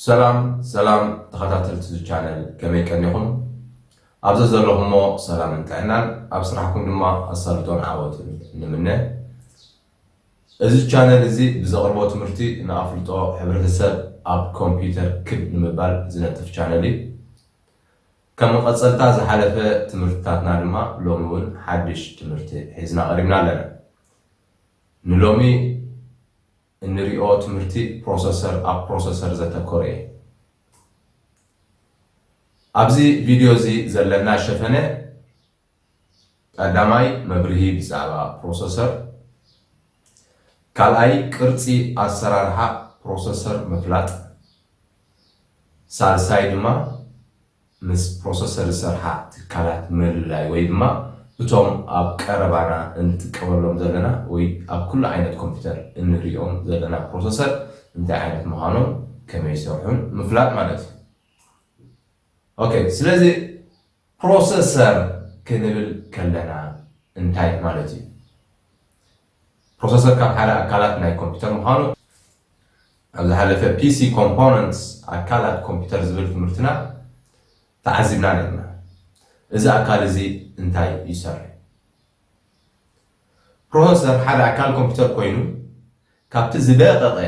ሰላም ሰላም ተኸታተልቲ እዚ ቻነል ከመይ ቀኒኹም ኣብዚ ዘለኹሞ ሰላምን ጥዕናን ኣብ ስራሕኩም ድማ ኣሳልጦን ዓወትን ንምነ እዚ ቻነል እዚ ብዘቕርቦ ትምህርቲ ንኣፍልጦ ሕብረተሰብ ኣብ ኮምፒውተር ክብ ንምባል ዝነጥፍ ቻነል እዩ ከም መቐፀልታ ዝሓለፈ ትምህርትታትና ድማ ሎሚ እውን ሓድሽ ትምህርቲ ሒዝና ቀሪብና ኣለና ንሎሚ እንሪኦ ትምህርቲ ፕሮሰሰር ኣብ ፕሮሰሰር ዘተኮረ እየ። ኣብዚ ቪድዮ እዚ ዘለና ሸፈነ ቀዳማይ መብርሂ ብዛዕባ ፕሮሰሰር፣ ካልኣይ ቅርፂ ኣሰራርሓ ፕሮሰሰር ምፍላጥ፣ ሳልሳይ ድማ ምስ ፕሮሰሰር ዝሰርሓ ትካላት ምልላይ ወይ ድማ እቶም ኣብ ቀረባና እንጥቀመሎም ዘለና ወይ ኣብ ኩሉ ዓይነት ኮምፒተር እንርእዮም ዘለና ፕሮሰሰር እንታይ ዓይነት ምዃኖም ከመይ ይሰርሑን ምፍላጥ ማለት እዩ። ኦከ ስለዚ ፕሮሰሰር ክንብል ከለና እንታይ ማለት እዩ? ፕሮሰሰር ካብ ሓደ ኣካላት ናይ ኮምፒተር ምዃኑ ኣብ ዝሓለፈ ፒሲ ኮምፖነንትስ፣ ኣካላት ኮምፒተር ዝብል ትምህርትና ተዓዚብና ነይርና። እዚ ኣካል እዚ እንታይ ይሰርሕ? ፕሮሰሰር ሓደ ኣካል ኮምፒተር ኮይኑ ካብቲ ዝደቐቐ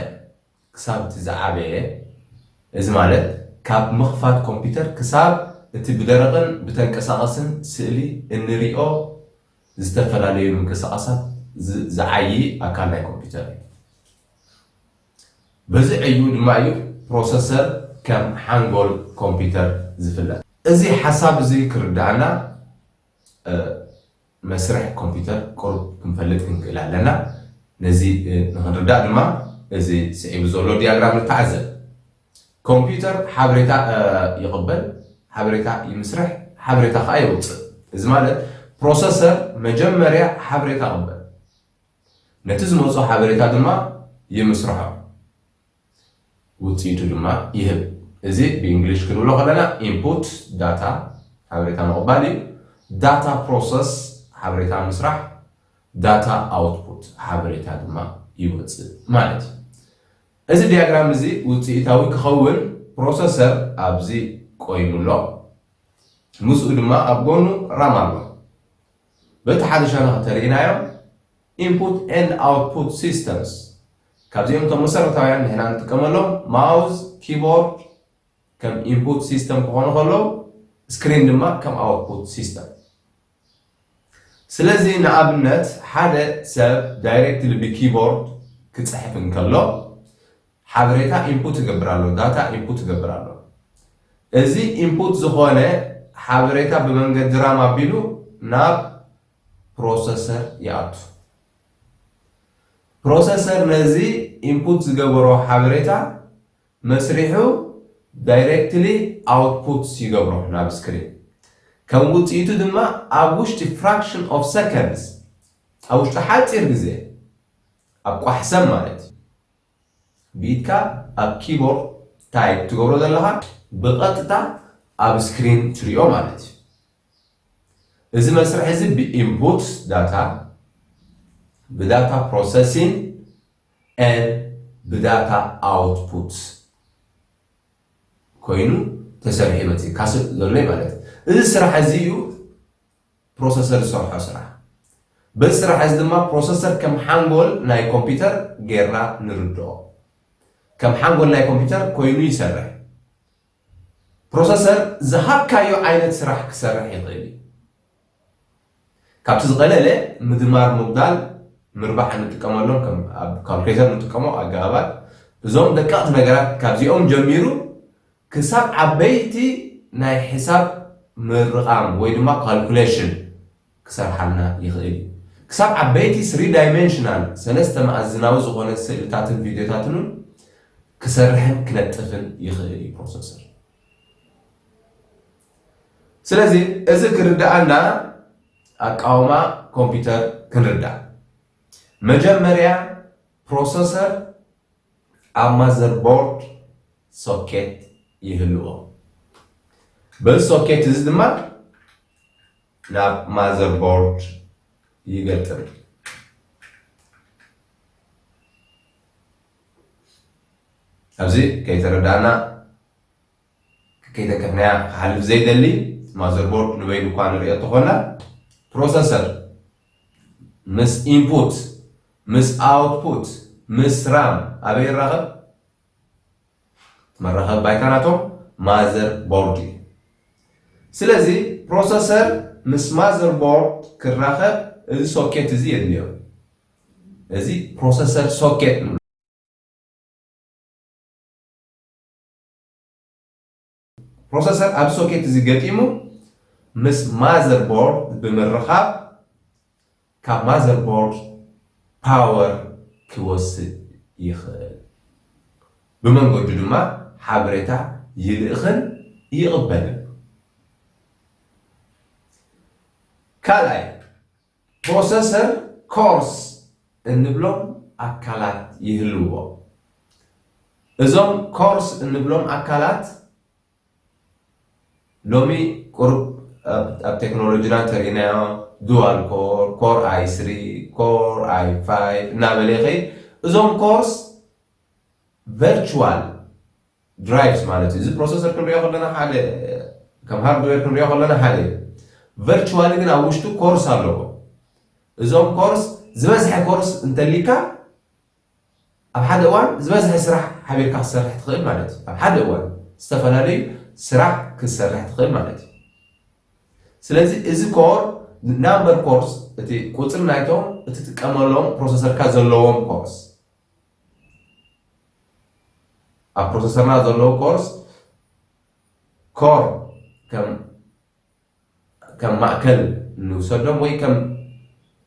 ክሳብ እቲ ዝዓበየ፣ እዚ ማለት ካብ ምኽፋት ኮምፒተር ክሳብ እቲ ብደረቕን ብተንቀሳቐስን ስእሊ እንሪኦ ዝተፈላለዩ ምንቅስቓሳት ዝዓዪ ኣካል ናይ ኮምፒተር እዩ። በዚ ዕዩ ድማ እዩ ፕሮሰሰር ከም ሓንጎል ኮምፒተር ዝፍለጥ። እዚ ሓሳብ እዚ ክርደኣና መስርሕ ኮምፒዩተር ቁሩብ ክንፈልጥ ክንክእል ኣለና። ነዚ ንኽንርዳእ ድማ እዚ ስዒቡ ዘሎ ዲያግራም ንተዓዘብ። ኮምፒዩተር ሓበሬታ ይቕበል፣ ሓበሬታ ይምስርሕ፣ ሓበሬታ ከኣ የውጽእ። እዚ ማለት ፕሮሰሰር መጀመርያ ሓበሬታ ይቕበል፣ ነቲ ዝመጾ ሓበሬታ ድማ ይምስርሖ። ውፅኢቱ ድማ ይህብ። እዚ ብእንግሊሽ ክንብሎ ከለና input data ሓበሬታ ምቕባል እዩ፣ data process ሓበሬታ ምስራሕ፣ data output ሓበሬታ ድማ ይወፅእ ማለት እዩ። እዚ ዲያግራም እዚ ውፅኢታዊ ክኸውን ፕሮሰሰር ኣብዚ ቆይሙ ኣሎ፣ ምስኡ ድማ ኣብ ጎኑ ራም ኣሎ። በቲ ሓደ ሸነኽ እንተሪኢናዮ Input and Output Systems፣ ካብዚኦም እቶም መሰረታውያን ንሕና ንጥቀመሎም፣ ማውዝ፣ ኪቦርድ፣ ከም ኢንፑት ሲስተም ክኾኑ ከለዉ፣ ስክሪን ድማ ከም ኣውትፑት ሲስተም። ስለዚ ንኣብነት ሓደ ሰብ ዳይሬክትሊ ብኪቦርድ ክጽሕፍ እንከሎ፣ ሓበሬታ ኢንፑት ይገብር ኣሎ፣ ዳታ ኢንፑት ይገብር ኣሎ። እዚ ኢንፑት ዝኾነ ሓበሬታ ብመንገዲ ራም ኣቢሉ ናብ ፕሮሰሰር ይኣቱ። ፕሮሰሰር ነዚ ኢንፑት ዝገበሮ ሓበሬታ መስሪሑ ዳይረክትሊ ኣውትፑት ይገብሮ ናብ ስክሪን። ከም ውጽኢቱ ድማ ኣብ ውሽጢ ፍራክሽን ኦፍ ሰከንድስ፣ ኣብ ውሽጢ ሓጺር ግዜ፣ ኣብ ቋሕ ሰብ ማለት እዩ፣ ብኢድካ ኣብ ኪቦርድ ታይፕ ትገብሮ ዘለኻ ብቐጥታ ኣብ ስክሪን ትሪኦ ማለት እዩ። እዚ መስርሕ እዚ ብኢንፑት ዳታ፣ ብዳታ ፕሮሰሲን and ብዳታ ኣውትፑት ኮይኑ ተሰሪሑ ይመጽእ ካስእ ዘሎ ማለት እዚ ስራሕ እዚ እዩ። ፕሮሰሰር ዝሰርሖ ስራሕ። በዚ ስራሕ እዚ ድማ ፕሮሰሰር ከም ሓንጎል ናይ ኮምፒተር ገይርና ንርድኦ። ከም ሓንጎል ናይ ኮምፒተር ኮይኑ ይሰርሕ። ፕሮሰሰር ዝሃብካዮ ዓይነት ስራሕ ክሰርሕ ይኽእል እዩ። ካብቲ ዝቐለለ ምድማር ምጉዳል ምርባሕ እንጥቀመሎም ከም ኣብ ካልኩሌተር እንጥቀሞ ኣገባባት እዞም ደቀቕቲ ነገራት ካብዚኦም ጀሚሩ ክሳብ ዓበይቲ ናይ ሕሳብ ምርቓም ወይ ድማ ካልኩሌሽን ክሰርሓልና ይኽእል እዩ። ክሳብ ዓበይቲ ስሪ ዳይመንሽናል፣ ሰለስተ መኣዝናዊ፣ ዝኾነ ስእልታትን ቪድዮታትን እውን ክሰርሕን ክነጥፍን ይኽእል እዩ ፕሮሰሰር። ስለዚ እዚ ክርድኣና ኣቃውማ ኮምፒውተር ክንርዳእ መጀመርያ ፕሮሰሰር ኣብ ማዘርቦርድ ሶኬት ይህልዎ። በዚ ሶኬት እዚ ድማ ናብ ማዘርቦርድ ይገጥም። ኣብዚ ከይተረዳእና ከይተከፍናያ ክሓልፍ ዘይደሊ ማዘርቦርድ ንበይኑ እኳ ንርእዮ እንተኾና ፕሮሰሰር ምስ ኢንፑት ምስ ኣውትፑት ምስ ራም ኣበይ ይራኸብ? መራኸቢ ባይታ ናቶም ማዘር ቦርድ እዩ። ስለዚ ፕሮሰሰር ምስ ማዘር ቦርድ ክራኸብ እዚ ሶኬት እዚ የድልዮ። እዚ ፕሮሰሰር ሶኬት ንብሎ። ፕሮሰሰር ኣብዚ ሶኬት እዚ ገጢሙ ምስ ማዘር ቦርድ ብምርኻብ ካብ ማዘር ቦርድ ፓወር ክወስድ ይኽእል። ብመንገዱ ድማ ሓበሬታ ይልእኽን ይቕበልን። ካልኣይ ፕሮሰሰር ኮርስ እንብሎም ኣካላት ይህልውዎ። እዞም ኮርስ እንብሎም ኣካላት ሎሚ ቁሩብ ኣብ ቴክኖሎጂና ተሪእናዮ ዱዋል ኮር ኮር ኣይ ስሪ ኮር ኣይ ፋይቭ እናበለ ይኸይድ እዞም ኮርስ ቨርቹዋል ድራይቭስ ማለት እዩ። እዚ ፕሮሰሰር ክንሪኦ ከለና ሓደ ከም ሃርድዌር ክንሪኦ ከለና ሓደ እዩ። ቨርቹዋሊ ግን ኣብ ውሽጡ ኮርስ ኣለዎ። እዞም ኮርስ ዝበዝሐ ኮርስ እንተሊካ ኣብ ሓደ እዋን ዝበዝሐ ስራሕ ሓቢርካ ክሰርሕ ትኽእል ማለት እዩ። ኣብ ሓደ እዋን ዝተፈላለዩ ስራሕ ክሰርሕ ትኽእል ማለት እዩ። ስለዚ እዚ ኮር ናምበር ኮርስ እቲ ቁፅሪ ናይቶም እትጥቀመሎም ፕሮሰሰርካ ዘለዎም ኮርስ ኣብ ፕሮሰሰርና ዘለዉ ኮርስ ኮር ከም ማእከል ንውሰዶም ወይ ከም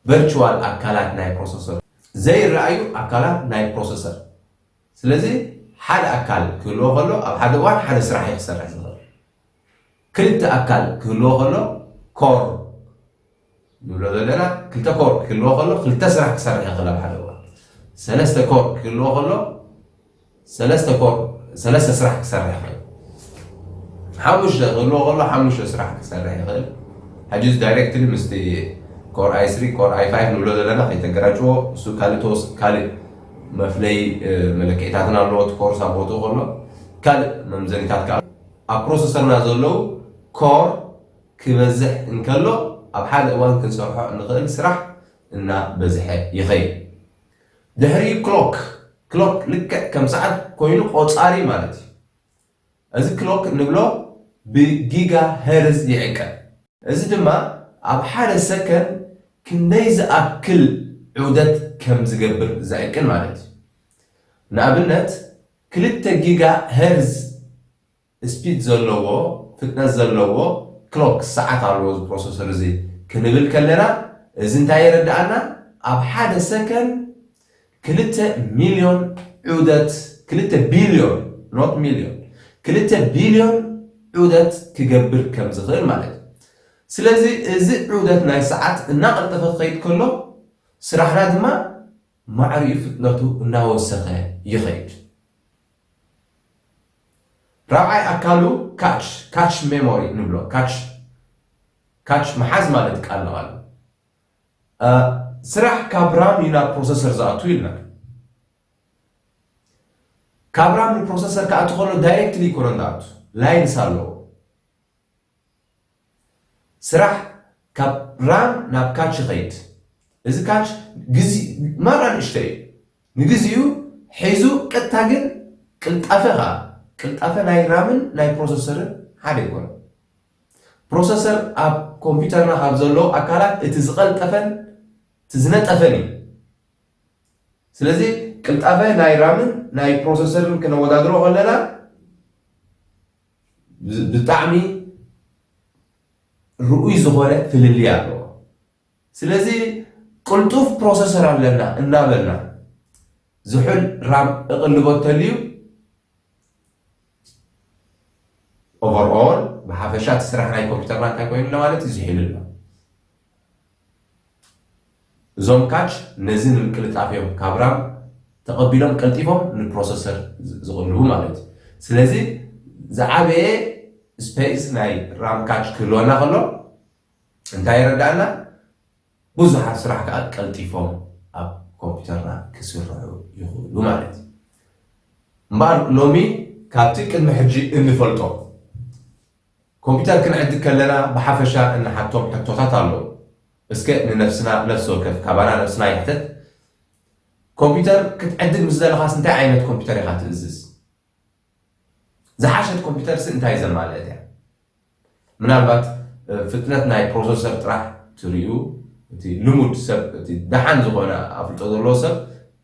ቨርቹዋል ኣካላት ናይ ፕሮሰሰር ዘይረኣዩ ኣካላት ናይ ፕሮሰሰር ስለዚ ሓደ ኣካል ክህልዎ ከሎ ኣብ ሓደ እዋን ሓደ ስራሕ እዩ ክሰርሕ ዝኽእል ክልተ ኣካል ክህልዎ ከሎ፣ ኮር ንብሎ ዘለና፣ ክልተ ኮር ክህልዎ ከሎ፣ ክልተ ስራሕ ክሰርሕ ይኽእል ኣብ ሓደ እዋን። ሰለስተ ኮር ክህልዎ ከሎ፣ ሰለስተ ኮር ሰለስተ ስራሕ ክሰርሕ ይኽእል። ሓሙሽተ ክህልዎ ከሎ፣ ሓሙሽተ ስራሕ ክሰርሕ ይኽእል። ሕጂ እዚ ዳይሬክትሊ ምስቲ ኮር ኣይ ስሪ ኮር ኣይ ፋይቭ ንብሎ ዘለና ከይተገራጭዎ፣ እሱ ካልእ ተወስ ካልእ መፍለይ መለክዒታትን ኣለዎ እቲ ኮርስ ኣብ ቦትኡ ከሎ ካልእ መምዘኒታት ከኣ ኣብ ፕሮሰሰርና ዘለዉ ኮር ክበዝሕ እንከሎ ኣብ ሓደ እዋን ክንሰርሖ እንኽእል ስራሕ እና በዝሐ ይኸይድ። ድሕሪኡ ክሎክ፣ ክሎክ ልክዕ ከም ሰዓት ኮይኑ ቆጻሪ ማለት እዩ። እዚ ክሎክ እንብሎ ብጊጋ ሄርዝ ይዕቀን። እዚ ድማ ኣብ ሓደ ሰከን ክንደይ ዝኣክል ዑደት ከም ዝገብር ዝዕቅን ማለት እዩ። ንኣብነት ክልተ ጊጋ ሄርዝ ስፒድ ዘለዎ፣ ፍጥነት ዘለዎ፣ ክሎክ፣ ሰዓት፣ ኣለዎ እዚ ፕሮሰሰር እዚ ክንብል ከለና እዚ እንታይ የረድኣና ኣብ ሓደ ሰከን ክልተ ሚልዮን ዑደት ክልተ ቢልዮን ኖት ሚልዮን ክልተ ቢልዮን ዑደት ክገብር ከም ዝኽእል ማለት እዩ። ስለዚ እዚ ዑደት ናይ ሰዓት እናቐልጠፈ ክኸይድ ከሎ ስራሕና ድማ ማዕሪኡ ፍጥነቱ እናወሰኸ ይኸይድ። ራብዓይ ኣካሉ ካች፣ Catch Memory፣ ንብሎ። ካች፣ Catch፣ ምሓዝ ማለት ቃል ንቓል። ስራሕ ካብ ራም እዩ ናብ ፕሮሰሰር ዝኣቱ ኢልና። ካብ ራም ንፕሮሰሰር ክኣቱ ከሎ ዳይሬክትሊ ኣይኮነን ዝኣቱ፣ ላይንስ ኣለዎ። ስራሕ ካብ ራን ናብ ካች ይኸይድ። እዚ ካች ግዝ ማራ ንእሽቶ እዩ ንግዚኡ ሒዙ ቀጥታ ግን ቅልጣፈ ከኣ ቅልጣፈ ናይ ራምን ናይ ፕሮሰሰርን ሓደ ኣይኮነን። ፕሮሰሰር ኣብ ኮምፒተርና ካብ ዘለዉ ኣካላት እቲ ዝቐልጠፈን እቲ ዝነጠፈን እዩ። ስለዚ ቅልጣፈ ናይ ራምን ናይ ፕሮሰሰርን ክነወዳድሮ ከለና፣ ብጣዕሚ ርኡይ ዝኾነ ፍልልይ ኣለዎ። ስለዚ ቅልጡፍ ፕሮሰሰር ኣለና እናበልና ዝሑል ራም እቕልቦ እተልዩ ኦቨርኦል ብሓፈሻ እቲ ስራሕ ናይ ኮምፒተርና እንታይ ኮይኑ ኣሎ ማለት እዩ ዝሒሉ ኣሎ። እዞም ካች ነዚ ንምቅልጣፍ እዮም ካብ ራም ተቐቢሎም ቀልጢፎም ንፕሮሰሰር ዝቕልቡ ማለት እዩ። ስለዚ ዝዓበየ ስፔስ ናይ ራም ካች ክህልወና ከሎ እንታይ የረድኣና? ብዙሓት ስራሕ ከዓ ቀልጢፎም ኣብ ኮምፒውተርና ክስርሑ ይኽእሉ ማለት እዩ። እምበኣር ሎሚ ካብቲ ቅድሚ ሕጂ እንፈልጦ ኮምፒተር ክንዕድግ ከለና ብሓፈሻ እንሓቶም ሕቶታት ኣለዉ። እስከ ንነፍስና ነፍሲ ወከፍ ካባና ነብስና ይሕተት፣ ኮምፒተር ክትዕድግ ምስ ደለኻስ እንታይ ዓይነት ኮምፒተር ኢኻ ትእዝዝ? ዝሓሸት ኮምፒተርሲ እንታይ ዘማልእት እያ? ምናልባት ፍጥነት ናይ ፕሮሰሰር ጥራሕ ትርእዩ እቲ ልሙድ ሰብ እቲ ደሓን ዝኾነ ኣፍልጦ ዘለዎ ሰብ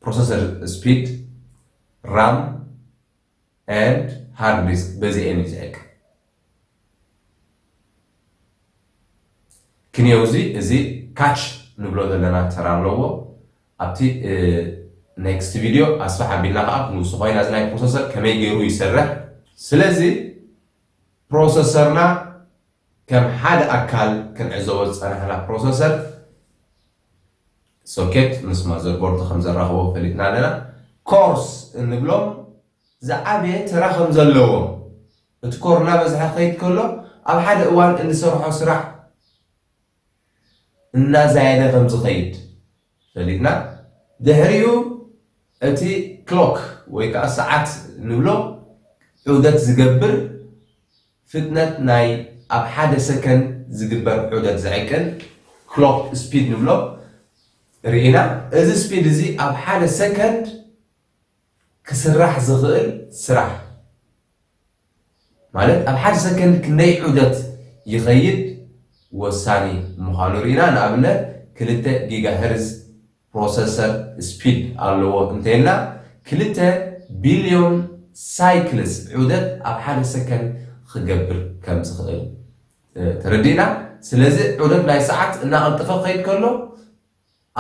ፕሮሰሰር ስፒድ ራም and hard disk በዚኤን እዩ ዝዕቀ ክንየው እዚ እዚ ካች ንብሎ ዘለና ተራ ኣለዎ ኣብቲ ኔክስት ቪድዮ ኣስፋሕ ኣቢልና ከዓ ክንውሱ ኮይና እዚ ናይ ፕሮሰሰር ከመይ ገይሩ ይሰርሕ ስለዚ ፕሮሰሰርና ከም ሓደ ኣካል ክንዕዘቦ ዝፀናሕና ፕሮሰሰር ሶኬት ምስ ማዘርቦርድ ከም ዘራኽቦም ፈሊጥና ኣለና። ኮርስ እንብሎም ዝዓበየ ተራ ከም ዘለዎም፣ እቲ ኮር እናበዝሐ ክኸይድ ከሎ ኣብ ሓደ እዋን እንሰርሖ ስራሕ እናዛየደ ከም ዝኸይድ ፈሊጥና ድሕሪኡ እቲ ክሎክ ወይ ከኣ ሰዓት ንብሎ ዑደት ዝገብር ፍጥነት ናይ ኣብ ሓደ ሰከንድ ዝግበር ዑደት ዝዕቅን፣ Clock Speed፣ ንብሎ ርኢና። እዚ ስፒድ እዚ ኣብ ሓደ ሰከንድ ክስራሕ ዝኽእል ስራሕ ማለት ኣብ ሓደ ሰከንድ ክንደይ ዑደት ይኸይድ ወሳኒ ምዃኑ ርኢና። ንኣብነት ክልተ ጊጋሄርዝ ፕሮሰሰር ስፒድ ኣለዎ እንተይልና ክልተ ቢልዮን ሳይክልስ ዑደት ኣብ ሓደ ሰከንድ ኽገብር ከም ዝኽእል ተረዲእና ስለዚ ዑደት ናይ ሰዓት እናቐልጠፈ ክኸይድ ከሎ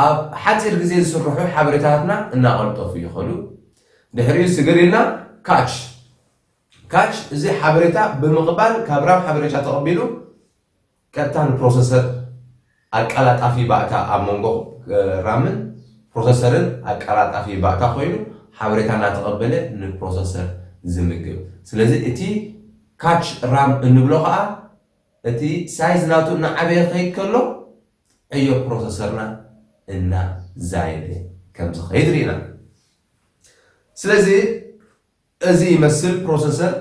ኣብ ሓፂር ግዜ ዝስርሑ ሓበሬታትና እናቐልጠፉ ይኸዱ ድሕሪኡ ስግር ኢልና ካች ካች እዚ ሓበሬታ ብምቕባል ካብ ራም ሓበሬታ ተቐቢሉ ቀጥታ ንፕሮሰሰር ኣቀላጣፊ ባእታ ኣብ መንጎ ራምን ፕሮሰሰርን ኣቀላጣፊ ባእታ ኮይኑ ሓበሬታ እናተቐበለ ንፕሮሰሰር ዝምግብ። ስለዚ እቲ ካች ራም እንብሎ ኸኣ እቲ ሳይዝ ናቱ እናዓበየ ክኸይድ ከሎ ዕዮ ፕሮሰሰርና እናዛየደ ከምዝኸይድ ርኢና። ስለዚ እዚ ይመስል ፕሮሰሰር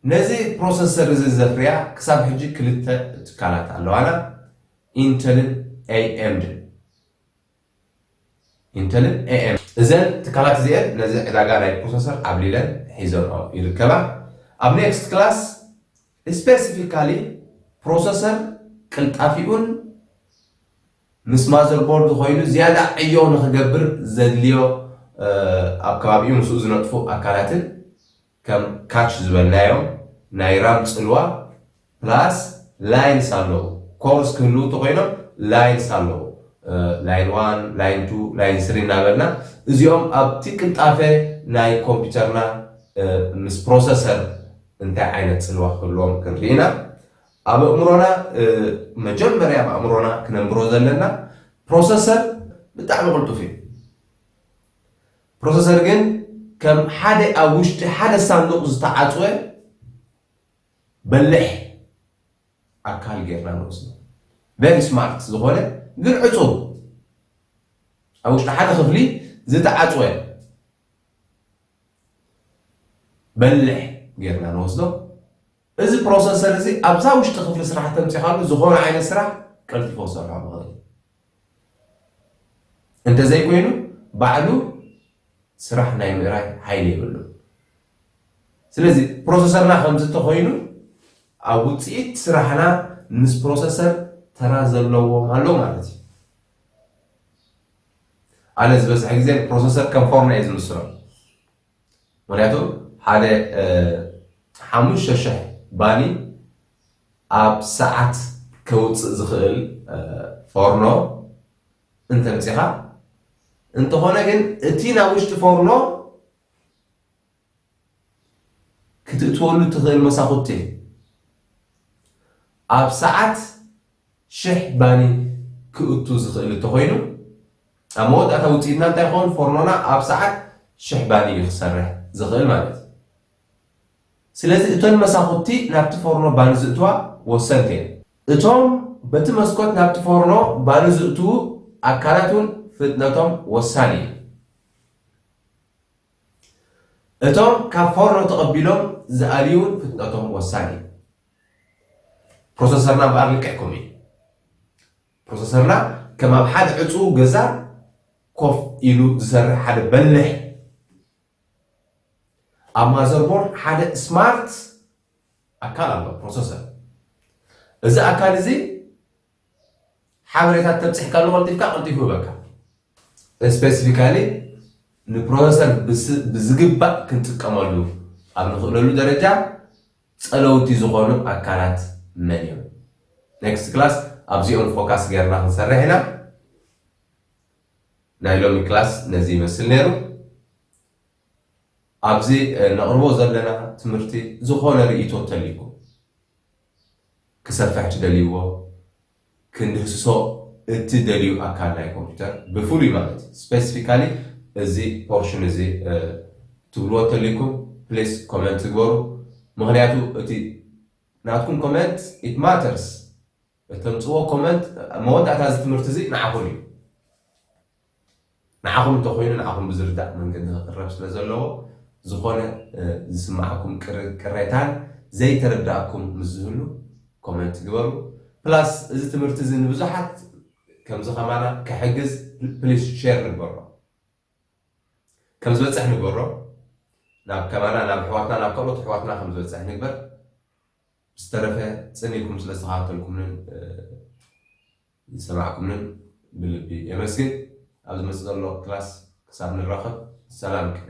ነዚ ፕሮሰሰር እዚ ዘፍርያ ክሳብ ሕጂ ክልተ ትካላት ኣለዋና ኢንተልን ኤኤምድን። ኢንተልን ኤኤም። እዘን ትካላት እዚኤን ነዚ ዕዳጋ ናይ ፕሮሰሰር ዓብሊለን ሒዘንኦ ይርከባ። ኣብ ኔክስት ክላስ ስፔሲፊካሊ ፕሮሰሰር ቅልጣፊኡን ምስ ማዘርቦርድ ኾይኑ ዝያዳ ዕዮ ንኽገብር ዘድልዮ ኣብ ከባቢኡ ምስኡ ዝነጥፉ ኣካላትን ከም ካች ዝበልናዮም ናይ ራም ፅልዋ ፕላስ ላይንስ ኣለዉ ኮርስ ክህልው ተኾይኖም ላይንስ ኣለዉ ላይን ዋን ላይን ቱ ላይን ስሪ እናበልና እዚኦም ኣብቲ ቅልጣፈ ናይ ኮምፒውተርና ምስ ፕሮሰሰር እንታይ ዓይነት ፅልዋ ክህልዎም ክንርኢ ኢና ኣብ ኣእምሮና መጀመርያ ኣብ ኣእምሮና ክነንብሮ ዘለና ፕሮሰሰር ብጣዕሚ ቅልጡፍ እዩ ፕሮሰሰር ግን ከም ሓደ ኣብ ውሽጢ ሓደ ሳንዱቕ ዝተዓፅወ በልሕ ኣካል ጌርና ንወስዶ ቨሪ ስማርት ዝኾነ ግን ዕፁብ ኣብ ውሽጢ ሓደ ክፍሊ ዝተዓፅወ በልሕ ጌርና ንወስዶ እዚ ፕሮሰሰር እዚ ኣብዛ ውሽጢ ክፍሊ ስራሕ ተምጺኻሉ ዝኾነ ዓይነት ስራሕ ቀልጢፉ ክሰርሖ ዝኽእል እዩ። እንተዘይኮይኑ ባዕሉ ስራሕ ናይ ምእራይ ሓይሊ የብሉን። ስለዚ ፕሮሰሰርና ከምዚ እንተኾይኑ ኣብ ውፅኢት ስራሕና ምስ ፕሮሰሰር ተራ ዘለዎም ኣሎ ማለት እዩ። ኣነ ዝበዝሐ ግዜ ፕሮሰሰር ከም ፎርና እዩ ዝምስሎ። ምክንያቱ ሓደ ሓሙሽተ ሽሕ ባኒ ኣብ ሰዓት ከውፅእ ዝኽእል ፎርኖ እንተምፂኻ እንተኾነ ግን እቲ ናብ ውሽጢ ፎርኖ ክትእትወሉ እትኽእል መሳኹቲ እዩ ኣብ ሰዓት ሽሕ ባኒ ክእቱ ዝኽእል እንተኾይኑ ኣብ መወዳእታ ውጽኢትና እንታይ ክኸውን ፎርኖና ኣብ ሰዓት ሽሕ ባኒ እዩ ክሰርሕ ዝኽእል ማለት እዩ። ስለዚ እቶን መሳኹቲ ናብቲ ፎርኖ ባኒ ዝእትዋ ወሰንቲ እየን። እቶም በቲ መስኮት ናብቲ ፎርኖ ባኒ ዝእትዉ ኣካላት እውን ፍጥነቶም ወሳኒ እዩ። እቶም ካብ ፎርኖ ተቐቢሎም ዝኣልዩ እውን ፍጥነቶም ወሳኒ እዩ። ፕሮሰሰርና እምበኣር ልክዕ ከምኡ እዩ። ፕሮሰሰርና ከም ኣብ ሓደ ዕጹው ገዛ ኮፍ ኢሉ ዝሰርሕ ሓደ በሊሕ ኣብ ማዘርቦርድ ሓደ ስማርት ኣካል ኣሎ ፕሮሰሰር እዚ ኣካል እዚ ሓበሬታት ተብፅሕካሉ ቀልጢፍካ ቀልጢፉ ይበካ ስፔሲፊካሊ ንፕሮሰሰር ብዝግባእ ክንጥቀመሉ ኣብ ንኽእለሉ ደረጃ ፀለውቲ ዝኾኑ ኣካላት መን እዮም? Next class ኣብዚኦም ፎካስ ገይርና ክንሰርሕ ኢና። ናይ ሎሚ ክላስ ነዚ ይመስል ነይሩ። ኣብዚ ነቕርቦ ዘለና ትምህርቲ ዝኾነ ርእይቶ ተልይኩም ክሰፍሕ ትደልይዎ ክንድህስሶ እትደልዩ ኣካል ናይ ኮምፒተር ብፍሉይ ማለት እዩ ስፐሲፊካሊ እዚ ፖርሽን እዚ ትብልዎ እተልይኩም ፕሊስ ኮመንት ግበሩ ምክንያቱ እቲ ናትኩም ኮመንት ኢት ማተርስ እተምጽዎ ኮመንት መወዳእታ እዚ ትምህርቲ እዚ ንዓኹም እዩ። ንዓኹም እንተኾይኑ ንዓኹም ብዝርዳእ መንገዲ ክቅረብ ስለዘለዎ ዝኾነ ዝስመዓኩም ቅሬታን ዘይተረደኣኩም ምስ ዝህሉ ኮመንት ግበሩ ፕላስ እዚ ትምህርቲ እዚ ንብዙሓት ከምዚ ከማና ክሕግዝ ፕሊስ ሼር ንግበሮ ከም ዝበፅሕ ንግበሮ ናብ ከማና ናብ ኣሕዋትና ናብ ካልኦት ኣሕዋትና ከም ዝበፅሕ ንግበር ዝተረፈ ፅን ኢልኩም ስለ ዝተኸታተልኩምንን ዝሰማዕኩምንን ብልቢ የመስግን ኣብ ዝመጽእ ዘሎ ክላስ ክሳብ ንራኸብ ሰላም ቅነ።